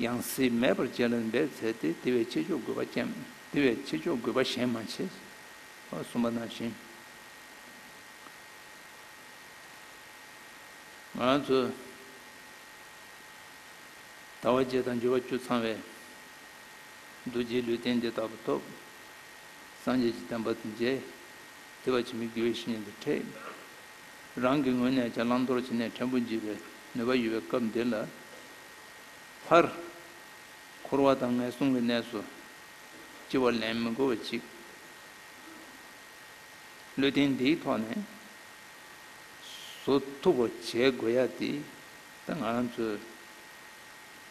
ཡང་སྲིད་མེད་པར་བྱས་ལ་འབད་མཛད་དེ་དེ་བས་ཆེ་ཆོག་དགོས་པ་ཅན་དེ་བས་ཆེ་ཆོག་དགོས་པ་གཞན་མ་བྱས་གསུངས་པ་ན་བཞིན། ང་ཚོས་ད་བར་བརྒྱད་དང་བཅུ་བ་བཅུ་ཚང་བའི་རྡོ་རྗེའི་ལུས་རྟེན་འདི་དག་པོ་ཐོབ། སངས་རྒྱས་ཀྱི་བསྟན་པ་འདི་མཇལ། དེ་བས་ཆེ་མི་དགོས་ཞེས་ཉན་ཏེ་ཁྲིད། རང་གི་ངོས་ནས་ཀྱང་བླང་དོར་བྱེད་ནས་ཕྲན་བུ་འཇིགས་པའི་ནུས་པ་ཡོད་པའི་སྐབས་འདི་ལ་ཕར། འཁོར་བ་དང་ངན་སོང་གི་གནས་སུ་སྐྱེ་བ་ལེན་མི་དགོས་པ་ཅིག་བློས་རྟེན་འདིའི་ཐོག་ནས་བཟོ་ཐུབ་པ་བྱེད་དགོས་ཡ་དེ་ད་ང་རང་ཚོའི་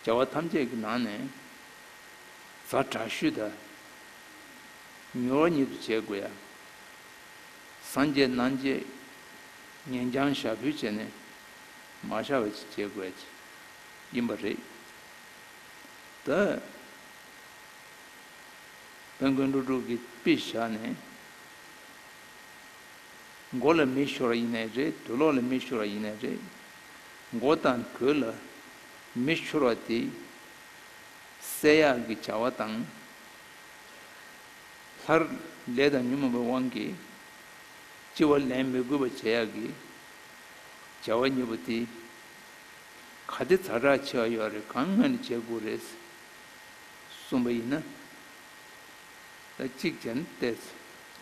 བྱ་བ་ཐམས་ཅད་ཀྱི་ནང་ནས་གཟའ་དྲག་ཤུལ་དང་མྱུར་བ་ཉིད་དུ་བྱེད་དགོས་ཡ། སངས་རྒྱས་རྣམས་ཀྱིས་ཉན་ཀྱང་ཞྭ་ཕུད་བྱས་ནས་མ་ཤར་བ་ཅི་བྱེད་དགོས་ཀྱི་ཡིན་པ་རེད། ད་དཔལ་མགོན་ཀླུ་སྒྲུབ་ཀྱི་དཔེ་བཞག་ནས་མགོ་ལ་མི་ཤོར་བ་ཡིན་ནའི་རེད་དུ་ལོག་ལ་མི་ཤོར་བ་ཡིན་ནའི་རེད་མགོ་དང་གོས་ལ་མི་ཤོར་བ་དེ་བསད་ཡག་གི་བྱ་བ་དང། ལྷར། ལས་དང་ཉོན་མོངས་པའི་དབང་གིས། ལྕི་བ་ལེན་མི་དགོས་པར་བྱས་ཡག་གི། བྱ་བ་མྱུར་བ་དེ། ག་དེ་ཚ་དྲག་ཆེ་བ་ཡོད་རེད་གང་སྔ་ནས་བྱེད་དགོས་རེད། གསུངས་པ་ཡིན་ན། ད་གཅིག་བྱས་ན་བལྟས་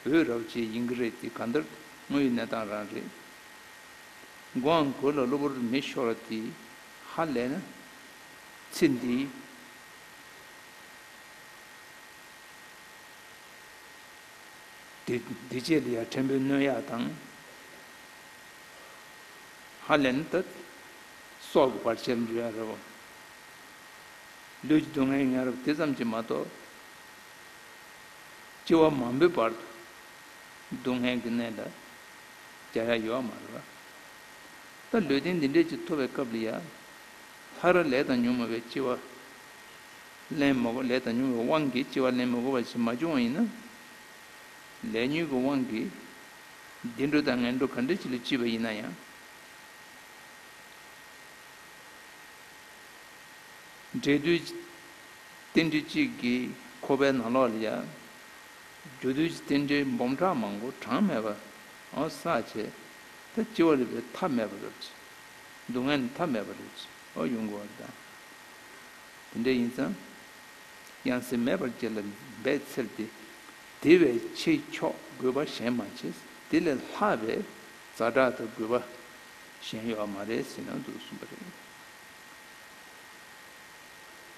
ཚེ་བོད་རབ་བྱེད་ཡིན་གྱི་རེད་དེ་ག་འདྲ་དངོས་ཡོད་གནས་སྟངས་རང་རེད། མགོའང་དགོད་ལ་གློ་བུར་མེད་ཤོར་ལ་དེ་ཧ་ལས་ན། ཚེ་འདིའི། དེ་རྗེས་ལི་ཡཱ་ཕྲན་བུའི་སྣོད་ཡག་དང། ཧ་ལན་ཏཱ་སོགས་ཀྱི་བར་ཆད་འཇོ་ཡང་རེད་བ། ལུས་ཀྱི་སྡུག་བསྔལ་ཡང་རེད་བ་དེ་ཙམ་གྱིས་མ་གཏོགས། སྤྱི་བ་མང་པོའི་བར་དུ་སྡུག་བསྔལ་གྱི་གནས་འདྲ་རྒྱག་ཡ་ཡོད་བ་མ་རེད་བ། ད་ལུས་རྟེན་འདི་འདྲས་ཀྱི་ཐོབ་པའི་སྐབས་ལི་ཡཱ་ལྷ་ར་ལས་དང་ཉུང་མ་བའི་སྤྱི་བ་ལན་མི་དགོས་ལས་དང་ཉུང་བའི་དབང་གིས་ལྕི་བ་ལན་མི་དགོས་པ་ཞིག་མ་བྱུང་བ་ཡིན་ན། ལས་ཉུང་གི་དབང་གིས་བདེ་འགྲོ་དང་ངན་འགྲོ་ག་འདྲའི་ཆེ་ལས་ལྕི་བ་ཡིན་ན་ཡང། འབྲས་དུས་ཀྱི་རྟེན་འབྲེལ་གཅིག་གིས་ཁོ་པའི་ནང་ལོགས་ལ་ཡར། རྒྱུ་དུས་ཀྱི་རྟེན་འབྲེལ་འབུམ་ཕྲག་མང་པོ་གྲངས་མེད་པ་ཟག་བྱེད་ད་ལྕི་བ་རེད་པས་ཐབས་མེད་པ་རེད། སྡུག་བསྔལ་ནི་ཐབས་མེད་པ་རེད། ཡོང་དགོས་པ་དང། དེ་འདྲ་ཡིན་ཙང། ཡང་སྲིད་མེད་པར་གྱེར་ལ་འབད་འཚེར་ཏེ། དེ་བས་ཆེས་མཆོག་དགོས་པ་གཞན་མ་མཆིས། དེ་ལས་ལྷག་པའི་རྫ་དྲག་ཏུ་དགོས་པ་གཞན་ཡོད་པ་མ་རེད་ཟེར་ན་འདུག་གསུངས་པ་རེད།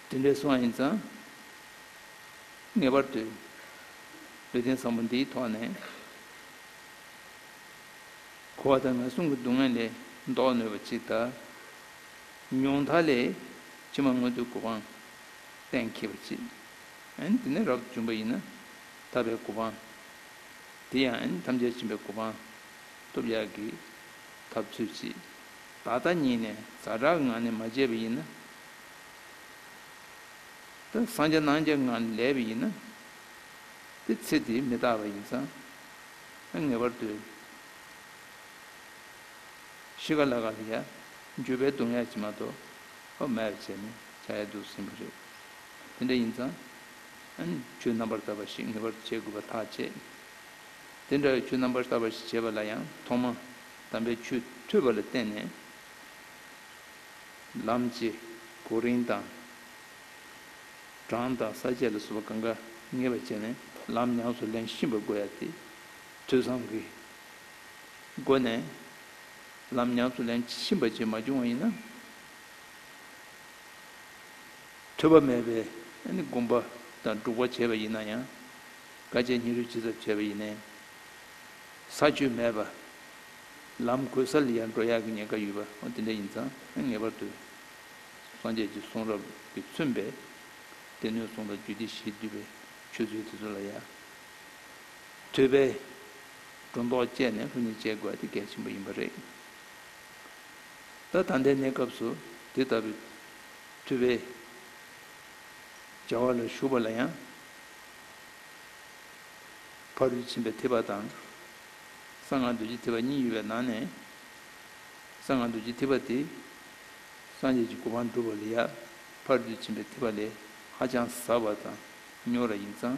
དེ་འདྲའི་གསུང་བ་ཡིན་ཙང། ངེས་པར་དུ་ལུས་རྟེན་བཟང་པོ་འདིའི་ཐོག་ནས། ཁུ་བ་དང་ན་ཟུག་གི་སྡུག་བསྔལ་ལས་ལྡོག་ནུས་པ་ཅིག་དང། མྱོང་མཐའ་ལས། ཕྱི་མ་མངོན་དུ་གོ་འཕང། གཏན་འཁེལ་བ་གཅིག། དེ་ནས་རབ་ཏུ་འབྱུང་བ་ཡིན་ན། དག་པའི་གོ་འཕང། དེ་ཡང་ཐམས་ཅད་མཆིན་པའི་གོ་འཕང། སྟོབས་ཡག་གི། ཐབས་ཚུལ་གཅིག། ད་ལྟ་ཉིད་ནས་ཛྭ་དྲག་ངང་ནས་མ་བྱས་པ་ཡིན་ན། དེ་སངས་རྒྱ་སྣང་རྒྱ་ངང་ནས་ལས་པ་ཡིན་ན། དེ་ཚེ་དེ་མི་རྟག་པ་ཡིན་ཙང། ངེས་པར་དུ། ཤི་ག་ལ་ག་ལ་ཡ། འགྱོད་པའི་གདུང་ཡ་ཅི་མ་གཏོགས། ཨོ་མའེར་བྱས་ནས་བྱ་ཡ་འདུག་ཟིན་པ་རེད། དེ་འདྲ་ཡིན་ཙང། ཆོས་རྣམ་པར་དག་པ་ཞིག་ངེས་པར་བྱེད་དགོས་པ་ཐག་བཅད། དེ་འདྲ་བའི་ཆོས་རྣམ་པར་དག་པ་ཞིག་བྱེད་པ་ལ་ཡང་ཐོག་མ་དམ་པའི་ཆོས་ཐོས་པ་ལ་བརྟེན་ནས། ལམ་བྱེད། གོ་རིམ་དང། གྲངས་དང་ས་བཅད་ལ་སོགས་པ་གང་དགའ་ངེས་པར་བྱས་ནས་ལམ་ཉམས་སུ་ལེན་ཤིན་པར་དགོས་ཡ་སྟེ། ཐོས་བསམ་གྱི་སྒོ་ནས། ལམ་ཉམས་སུ་ལེན་ཕྱིན་པ་བྱེད་མ་བྱུང་བ་ཡིན་ན། ཐོས་པ་མེད་པས་ནི་བསྒོམ་པ་དང་སྒྲུབ་པ་བྱས་པ་ཡིན་ན་ཡང། དཀའ་སྤྱད་སྙིང་རུས་ཇི་ཙམ་བྱས་པ་ཡིན་ནའི། ས་བཅུད་མེད་པ། ལམ་གོལ་ས་ལ་ཡར་འགྲོ་ཡར་གྱི་ཉེན་ཁ་ཡོད་པ་དེ་འདྲ་ཡིན་ཙང་ངེས་པར་དུ། སངས་རྒྱས་ཀྱི་གསུང་རབ་ཀྱིས་མཚོན་པའི། སྡེ་སྣོད་གསུམ་ལ་རྒྱུད་སྡེ་བཞིས་བསྡུས་པའི་ཆོས་ཚུལ་དེ་ཚོ་ལ་ཡང། ཐོས་པའི་སྒྲོ་འདོགས་བཅད་ནས་ལྷུ་ནི་བཅད་དགོས་དེ་གལ་ཆེན་པོ་ཡིན་པ་རེད། ད་ད་ལྟའི་གནས་སྐབས་སུ་དེ་ལྟ་བུའི་ཐུ་བའི་སྦྱར་བ་ལ་ཞུགས་པ་ལ་ཡང་ཕ་རོལ་ཕྱིན་པའི་ཐེག་པ་དང་གསང་སྔགས་རྡོ་རྗེ་ཐེག་པ་གཉིས་ཡོད་པའི་ནང་ནས་གསང་སྔགས་རྡོ་རྗེ་ཐེག་པ་དེ་སངས་རྒྱས་ཀྱི་གོ་འཕང་བསྒྲུབ་པ་ལ་ཡང་ཕ་རོལ་ཕྱིན་པའི་ཐེག་པ་ལས་ཧ་ཅང་ཟབ་བ་དང་རྙོག་ར་ཡིན་ཙང།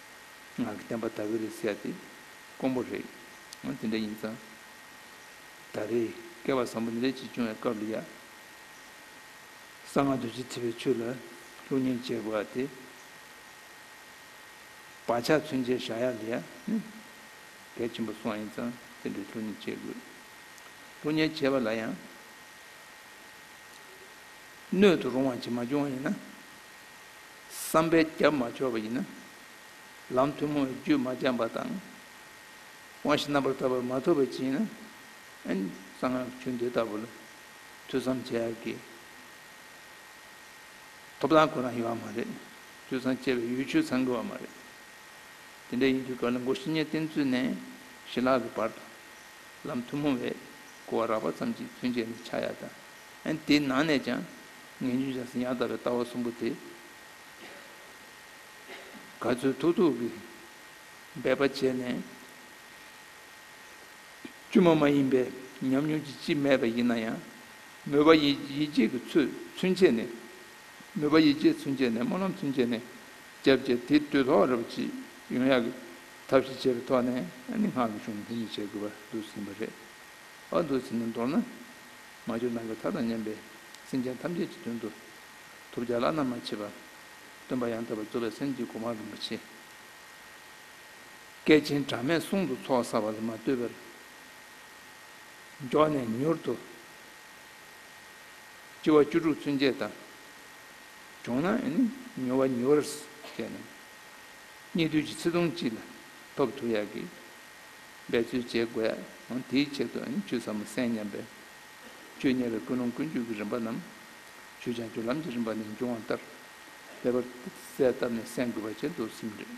ངག་གི་བསྟན་པ་དག་གི་རེད་ཟེར་ཏེ་དཀོན་པོ་རེད། དེ་འདྲ་ཡིན་ཙང་ད་རེས་བསྐལ་པ་བཟང་པོ་འདི་འདྲ་ཅིག་བྱུང་བའི་སྐབས་ལ་ཡ། གསང་སྔགས་རྡོ་རྗེ་ཐེག་པའི་ཆོས་ལ་ཀླུ་གཉན་བྱེད་པ་དེ་བག་ཆགས་མཚོན་ཆའི་བཞག་ཡ་ལ་ཡ་ནི་གལ་ཆེན་པོ་སོང་ཡིན་ཙང་དེ་འདྲའི་ཀླུ་གཉན་བྱེད་དགོས། ཀླུ་གཉན་བྱེད་པ་ལ་ཡང་སྣོད་དུ་རུང་བ་ཅིག་མ་བྱུང་བ་ཡིན་ན། བསམ་པའི་རྒྱབ་མ་འཆོར་བ་ཡིན་ན། ལམ་ཐུན་མོང་བའི་རྒྱུད་མ་སྦྱངས་པ་དང། དབང་བཞི་རྣམ་པར་དག་པར་མ་ཐོབ་པའི་རྐྱེན་ཡིན་ན། ཨན་གསང་སྔགས་ཀྱི་ཆོས་འདི་ལྟ་བུ་ལ་ཐོས་བསམ་བྱ་དགོས། ཐོབ་ཐང་ཁོ་ན་ཡོད་བ་མ་རེད། ཐོས་བསམ་བྱེད་པའི་ཡུལ་ཆོས་ཚང་དགོས་བ་མ་རེད། དེ་འདྲ་ཡིན་དུས་ག་ལ་མགོ་བཞི་ཉེར་བསྟན་ཚུན་ནས་ཞི་ལྷག་གི་བར་དུ། ལམ་ཐུན་མོང་བས་གོ་བ་རགས་པ་ཙམ་གྱིས་ཚུན་ཆད་ནས་ཆགས་ཡ་དང་དེའི་ནང་ནས་ཀྱང་ངན་སྤྱོད་བྱས་ཟིན་ཡང་དག་པའི་ལྟ་བ་གསུམ་པོ་དེ། ག་ཚོད་ཐུག་ཐུག་གིས་འབད་པ་བྱས་ནས། དཀྱུས་མ་མ་ཡིན་པའི་ཉམས་མྱོང་ཅི་མཆིས་སྨྲས་པ་ཡིན་ན་ཡང། མོས་པ་ཡིད་ཆེས་ཀྱི་ཚུལ་ཚུན་ཆད་ནས། མོས་པ་ཡིད་ཆེས་ཚུན་ཆད་ནས་སྨོན་ལམ་ཚུན་ཆད་ནས། བརྒྱ་བྱས་དེ་དུས་ཐོག་རེ་བ་ཅི་ཡོང་ཡག་གི་ཐབས་ཤེས་བྱས་པའི་ཐོག་ནས་ནི་སྔགས་ཀྱི་གཞུང་ལ་མཐུན་འཇུག་བྱེད་དགོས་པར་འདུག་ཟིན་པ་རེད། འོ་འདུག་ཟིན་ན་མདོར་ན། མ་གྱུར་ནང་གི་མཐའ་དང་མཉམ་པའི་སེམས་ཅན་ཐམས་ཅད་ཀྱི་དོན་དུ། ཐུགས་བསྐྱེད་བླ་ན་མ་མཆིས་པ། སྟོན་པ་ཡང་དག་པར་རྫོགས་པའི་སེམས་ཀྱིས་གོ་འཕང་རིན་པོ་ཆེ་བསྐལ་ཆེན་གྲངས་མེད་གསུང་དུ་ཚོགས་བསགས་པ་ལས་མ་བལྟོས་པར། མགྱོགས་ནས་མྱུར་དུ། ལྕི་བ་བཅུ་དྲུག་ཚུན་ཆད་དང། བྱུང་ན་ནི་མྱུར་བ་མྱུར་བར་བསྐྱེད། གཉིད་དུས་ཀྱི་ཚེ་ཐུང་གཅིག་ལ་ཐོབ་ཐུགས་ཡག་གིས། འབད་རྩོལ་བྱེད་དགོས། དེའི་ཆེད་དུ་ཆུ་ཟབ་མོ་གསན་སྙམ་པས། ཆུ་དམྱལ་བའི་ཀུན་སློང་ཀུན་སྤྱོད་ཀྱི་རིམ་པ་རྣམས། ཆུ་བྱང་ཆུབ་ལམ་གྱི་རིམ་པ་ནས་འབྱུང་བ་ལྟར། ལེགས་པར་གསལ་བཏབ་ནས་གསན་དགོས་པ་བཅས་མདོར་གསུམ་རེད།